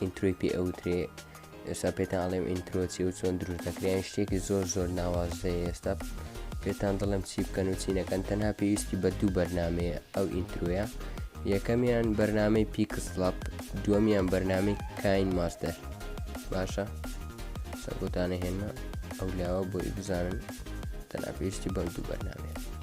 ئینترۆی پێ ئەوترێ ئێستا پێتان ئەڵێم ئینترۆچی و چۆن دروست دەکرێن شتێکی زۆر زۆر ناوازەیە ئێستا پێتان دڵم چی بکەن و چی نەکەن تەنها پێویستی بە دوو بەرنمەیە ئەو ئینتروە یەکەمیان بەرنمەی پیکسڵپ دووەمیان بەرنامی کاین ماستەر باشە سەبوتانە هێنمە ئەو لاوە بۆی بزانن تەنها پێویستی بەم دوو بەرنمەیە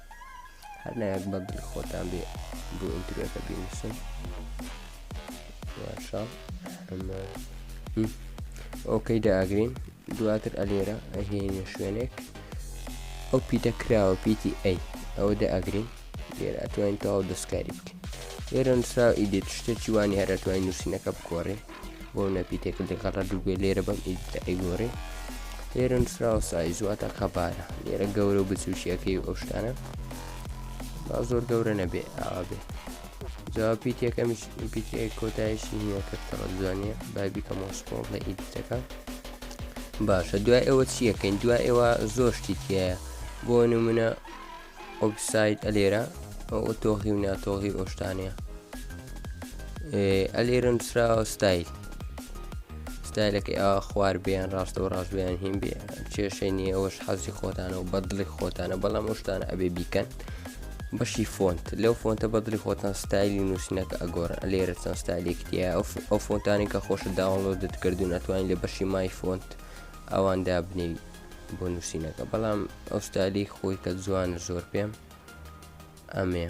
هەر نایەک بە بل خۆتان بێ بۆ ئینتروەکە بینوسن یاشا ئۆکەی داگرین دواتر ئەلێرە ئەهێنە شوێنێک ئەو پیتە کراوە پیتی ئەی ئەوە دە ئەگرین لێرە ئەتوانین تەواو دەستکاری بکەین لێرە نووسراو ئیدێت شتێکی وانی هەر ئەتوانین نووسینەکە بگۆڕین بۆ نەپی تێکرد دەگەڕە دووگوێ لێرە بەم ئیدتە ئەیگۆرێ لێرە نووسراوە سایزواتە قەبارە لێرە گەورە و بچوشیەکەی ئەو شتانە با زۆر گەورە نەبێ ئاوا بێ جواب پیت یەکەمیش پیت کۆتایشی نییە کە تەڵە جوانە بای بیکەم وەسپۆ لە ئیدتەکە باشە دوای ئەوە چیەکەین دوای ئێوە زۆر شتی تایە بۆ نمونە ئۆکساید ئەلێرە ئەو تۆغی و ناتۆغی ئۆشتانەیە ئەلێرە نووسراوە ستایل ستایلەکەی ئا خوار بیان ڕاستە و ڕاستبیان هیم بێ کێشەی نیە ئەوش حەزی خۆتانە و بەدڵی خۆتانە بەڵام ئۆشتانە ئەبێ بیکەن بەشی فۆنت لەو فۆنتە بەدڵی خۆتان ستایلی نووسینەکە ئەگۆرە لێرە چەند ستایلێکتیە ئەو فۆنتانی کە خۆشە داوەڵۆ دەتکردو ناتوانین لە بەشی مای فۆنت ئەواندا بنێوی بۆ نووسینەکە بەڵام ئەو ستالی خۆی کە جوانە زۆر پێم ئەمێ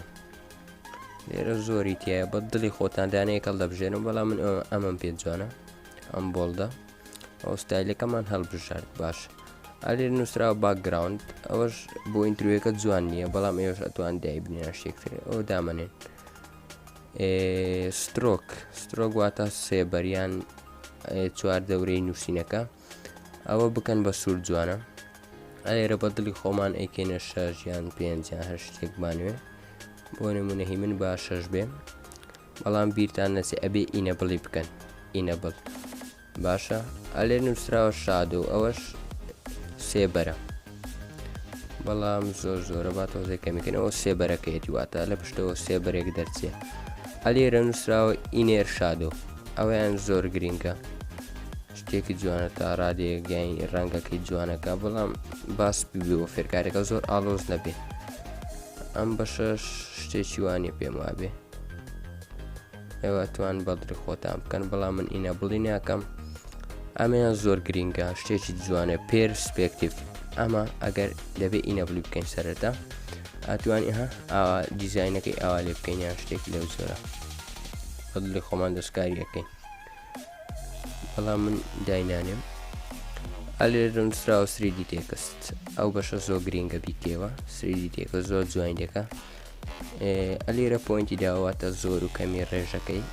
لێرە زۆری تایە بە دڵی خۆتان دانەیە کەڵ دەبژێنم بەڵام من ئەمەم پێ جوانە ئەم بۆڵدە ئەو ستایلەکەمان هەڵبژارد باش ئالێر نووسرا باکگراوند ئەوەش بۆ ئینتروەکە جوان نییە بەڵام ئێوەش ئەتوان دای بنیە شتێکتر ئەو دامەنێن سترۆک سترۆک واتە سێبەریان چوار دەورەی نووسینەکە ئەوە بکەن بە سوور جوانە ئەێرە بە دڵی خۆمان ئەیکەینە شەژ یان پێنج یان هەر شتێک بانوێ بۆ نمونەهی من با شەش بێ بەڵام بیرتان نەچێ ئەبێ ئینە بڵی بکەن ئینە بڵ باشە ئەلێ نووسراوە شاد و ئەوەش سێبەرە بەڵام زۆر زۆرە با تۆزێک کەمیکەنەوە سێبەرەکەیەتی واتە لە پشتەوە سێبەرێک دەرچێ ئەلێرە نووسراوە ئینێر شادۆ ئەویان زۆر گرینگە شتێکی جوانە تا ڕادێگەین ڕەنگەکەی جوانەکە بەڵام باس ببێەوە فێرکارەکە زۆر ئالۆز نەبێ ئەم بەشە شتێکی وانە پێم وابێ ئێوە ئەتوان بەڵدری خۆتان بکەن بەڵام من ئینە بڵی ناکەم ئەمەیان زۆر گرینگە شتێکی جوانە پێرسپێکتیف ئەمە ئەگەر دەبێت ئینە بلی بکەین سەرەتا ئەتوانی ها ئاوا دیزینەکەی ئاوا لێ بکەین یان شتێک لەو زۆرە بەڵی خۆمان دەستکاری یەکەین بەڵام من داینانێم ئەلێرن سراوە سریدی تێکست ئەو بەشە زۆ گرینگە بیکەوە سریدی تێکە زۆر جوین دەکە ئەلیرە پۆینتی داواتە زۆر و کەمی ڕێژەکەی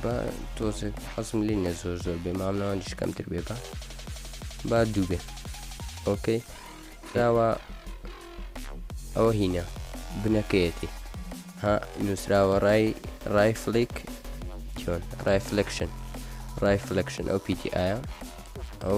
بە تۆزێک حەزم لی نە زۆر زۆر بێ مامناوانیش کەمتر بێ بە با دوو بێ ئۆکەی داوا ئەوە هینە بنەکەیەتی ها نووسراوە ڕای ڕای فلیک چۆن ڕای فلکشن ڕای فلکشن ئەو پیتی ئایا ئەو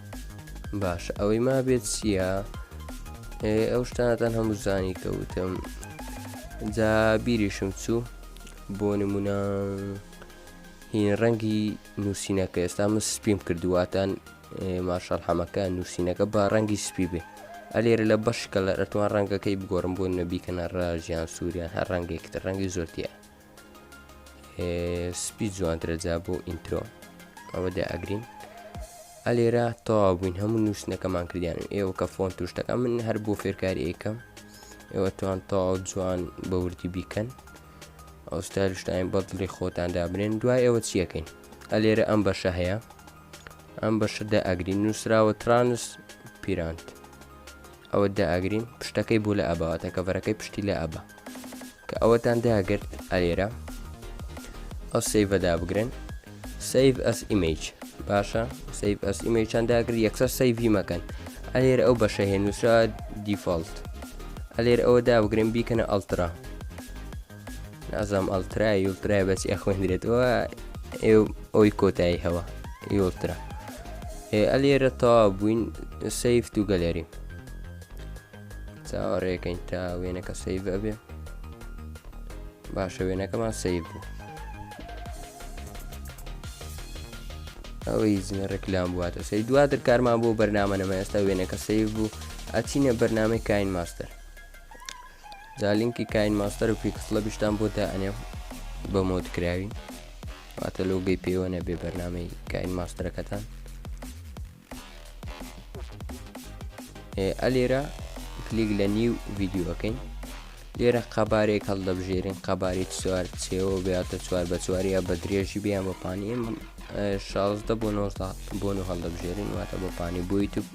باشە ئەوەی ما بێت چییە؟ ئەو شتانتان هەموو زانی کەوتم جا بیریشم چوو بۆ نمونە هین ڕەنگی نووسینەکە ئێستا من سپیم کردوواتان ماشەڵ حەمەکە نووسینەکە بە ڕەنگی سپی بێ ئەلێرە لە بەشکە لە ئەتوان ڕەنگەکەی بگۆڕم بۆ نەبیکەنە ڕژیان سووریان هەر ڕەنگێکتر ڕەنگی زۆرتیە سپی جوانترە جا بۆ ئینترۆ ئەوە دە ئەگرین ئەلێرە تەوا بووین هەموو نووسنەکەمان کردیان و ئێوە کە فۆن توشتەکە من هەر بۆ فێرکاری ئەیکەم ئێوە توان تەواو جوان بە وردی بیکەن ئەو ستایلشتاین بەدڵی خۆتان دابنێن دوای ئێوە چیەکەین ئەلێرە ئەم بەشە هەیە ئەم بەشە دە ئەگرین نووسراوە ترانس پیرانت ئەوەت دا ئاگرین پشتەکەی بۆ لە ئابا واتە کەڤەرەکەی پشتی لە ئابا کە ئەوەتان داگرت ئەلێرە ئەو سیڤە دابگرن سیڤ ئەس ئیمیج باشە سیڤ ئەس ئیمیجان داگر یەکسەر سیڤی مەکەن ئەلێر ئەو بەشە هێنووسرا دیفۆلت ئەلێر ئەوە دابگرن بیکەنە ئەلترا نازام ئەلترا یولترای بەچ ئەخوێندرێتەوە ئێ ئەوی کۆتایی هەوە یولترا ئەلێرە تا بووین سیفت و گەلێری چاوەڕێکەین تا وێنەکە سیف ئەبێ باشە وێنەکەمان سیف بوو ئەوەی زنە ڕێکلام بواتە سەی دواتر کارمان بۆ بەرنامە نەمە ئێستا وێنەکە سیف بوو ئەچینە بەرنمەی کاین ماستەر جا لینکی کاین ماستەر و پیکسڵەبیشتان بۆ دائەنێم بە مۆد کراوی واتە لۆگەی پێوە نەبێ بەرنمەی کاین ماستەرەکەتان ئەلێرە کلیک لە نیو ڤیددیوەکەین لێرە قەبارێک هەڵدەبژێرین قەباری چوار چێوە بێتە چوار بە چواریا بە درێژی بیان بە پانی شازدە بۆ نۆ بۆن و هەڵدەبژێرین واتە بە پانی بۆی تو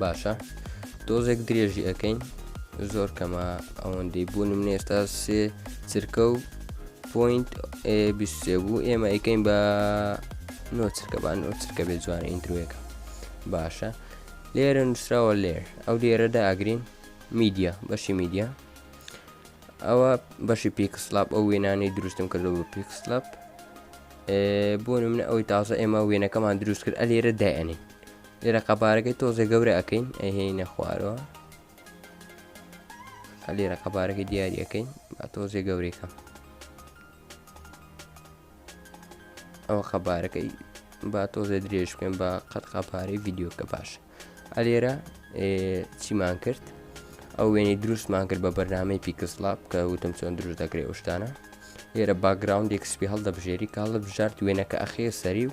باشە دۆزێک درێژی ئەەکەین زۆر کەمە ئەوەندەی بوونم نێستا سێ چرکە و پوینت سێ بوو ئێمە ئەیکەین بە نۆ چرکەبان نۆ چرکە بێ جوانە ئینتروێکە باشە لێرە نووسراوە لێر ئەو لێرەدا ئەگرین میدیا بەشی میدیا ئەوە بەشی پیکسلاپ ئەو وێنانی دروستم کردو بە پیکسلاپ بۆ منە ئەوەی تازە ئێمە وێنەکەمان دروست کرد ئەلێرە دایێنین لێرە قەبارەکەی تۆزێ گەورە ئەەکەین ئەهێنە خوارەوە لێرە قەبارەکەی دیارەکەین با تۆزێ گەورەکە ئەوە خەبارەکەی با تۆزێ درێژ بکەین بە قەت قاپارەی یددیوکە باش ئەلێرە چیمان کرد ئەو وێنی دروستمان کرد بە بەرنمەی پیکسلاب کە وتم چۆن دروست دەکرێ شتانە لێرە باگراوندێک سپی هەڵدەبژێری کاڵە بژارت وێنەکە ئەخێ سەری و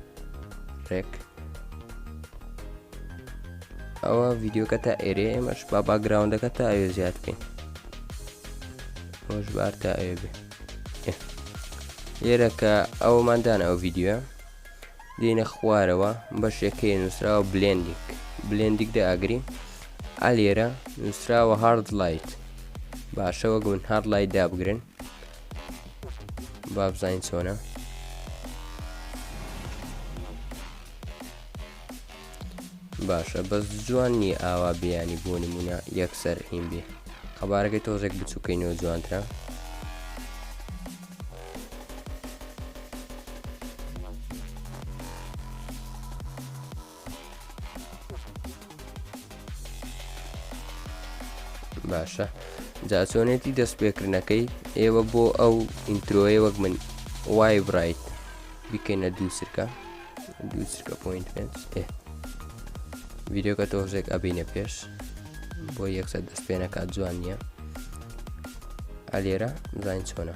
ڕێک ئەوە ڤیددیوکە تا ئێرێ ئێمەش با باگراونەکە تا ئەوێ زیاد بکەین خۆش بار تا ئەوێ بێ لێرە کە ئەوماندان ئەو ڤیددیوە دێنە خوارەوە بەشێکەی نووسراوە بلێندیک بلێندیک دە ئاگری ئالێرە نووسراوە هارد لایت باشەوە گون هارد لای دابگرن بابزین چۆنە باشە بەس جوان نییە ئاوا بیانی بۆ نمونە یەکسەر هیم بێ قەبارەکەی تۆزێک بچووکەینەوە جوانترە باشە جاچۆنێتی دەست پێکردنەکەی ئێوە بۆ ئەو ئینترۆیە وەک من وای برایت بکەینە دوو سرکە دوو سرکە پوینت پێ ڤیددیوکە تۆزێک ئەبینە پێش بۆ یەکسەر دەست پێێنەکات جوان نییە ئەلێرە زین چۆنە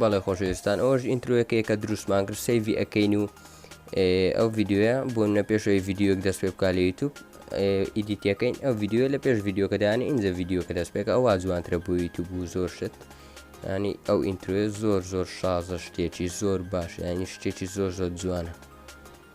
بەڵێ خۆشەویستان ئەوش ئینتروەکەی کە دروستمان کرد سەیڤی ئەەکەین و ئەو ڤیددیوە بۆ نە پێشەوەی ڤیددیوک دەست پێ بکە لە یوتوب ئیدیتەکەین ئەو ڤیددیوە لە پێش ڤیددیوکەدانی ئینجا ڤیددیوکە دەست پێکە ئەوە جوانترە بۆ یوتوب و زۆر شت ینی ئەو ئینتروێ زۆر زۆر شازە شتێکی زۆر باش ینی شتێکی زۆر زۆر جوانە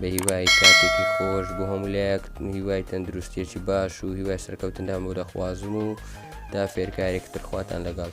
بە هیوای کاتێکی خۆش بۆ هەموو لایەک هیوای تەندروستێکی باش و هیوای سەرکەوتندام و دەخوازم و دا فێرکارێک ترخواتان لەگەڵ